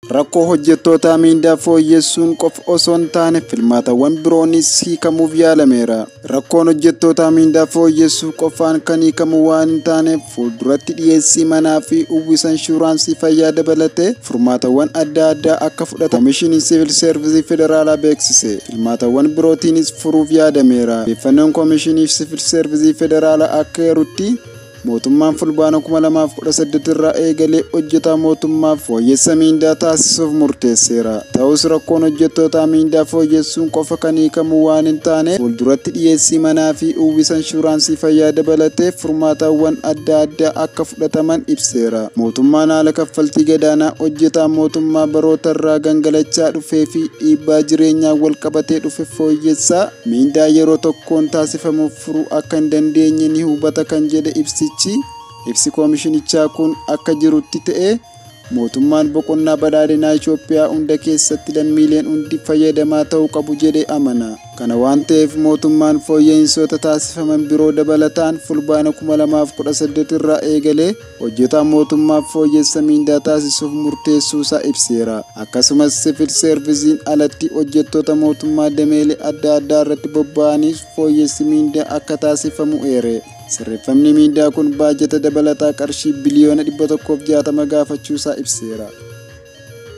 Rakkoo hojjettootaa miindaa fooyyessuun qofa osoo hin taane filmaatawwan biroonis hiikamuuf yaalameera. Rakkoon hojjettootaa miindaa fooyyessuu qofaan kan hiikamu waan hin taaneef fuulduratti dhiyeessii manaa fi uwwisa inshuraansii fayyaa dabalatee furmaatawwan adda addaa akka fudhatan Komishinii Siivil Seervisii Federaalaa beeksise. Filmaatawwan birootiinis furuuf yaadameera. Odeeffannoon Komishinii Siivil Seervisii Federaalaa akka eerutti Mootummaan Fulbaana 2018 irraa eegalee hojjetaa mootummaaf fooyyessa miindaa taasisuuf murteesseera. Ta'us rakkoon hojjettootaa miindaa fooyyessuun qofa kan hiikamu waan hin taane fuulduratti dhiyeessii manaa fi uwwisa inshuraansii fayyaa dabalatee furmaatawwan adda addaa akka fudhataman ibseera. Mootummaan haala kaffaltii gadaanaa hojjetaa mootummaa barootarraa gangalachaa dhufee fi dhiibbaa jireenyaan walqabatee dhufe fooyyessaa miindaa yeroo tokkoon taasifamuuf furuu akka hin dandeenye ni hubata kan jedhe ibsichi, ibsi koomishinichaa kun akka jirutti ta'ee mootummaan boqonnaa badhaadhinaa Itoophiyaa hunda keessatti lammiileen hundi fayyadamaa ta'uu qabu jedhee amana. Kana waan ta'eef mootummaan fooyya'insoota taasifaman biroo dabalataan Fulbaana 2018 irraa eegalee hojjetaa mootummaaf fooyyessa miindaa taasisuuf murteessuusaa ibseera. Akkasumas sivil seervisiin alatti hojjettoota mootummaa dameelee adda addaa irratti bobba'aniif fooyyessi miindaa akka taasifamu eere. Sirreeffamni miindaa kun baajata dabalataa qarshii biliyoona 160 gaafachuusaa ibseera.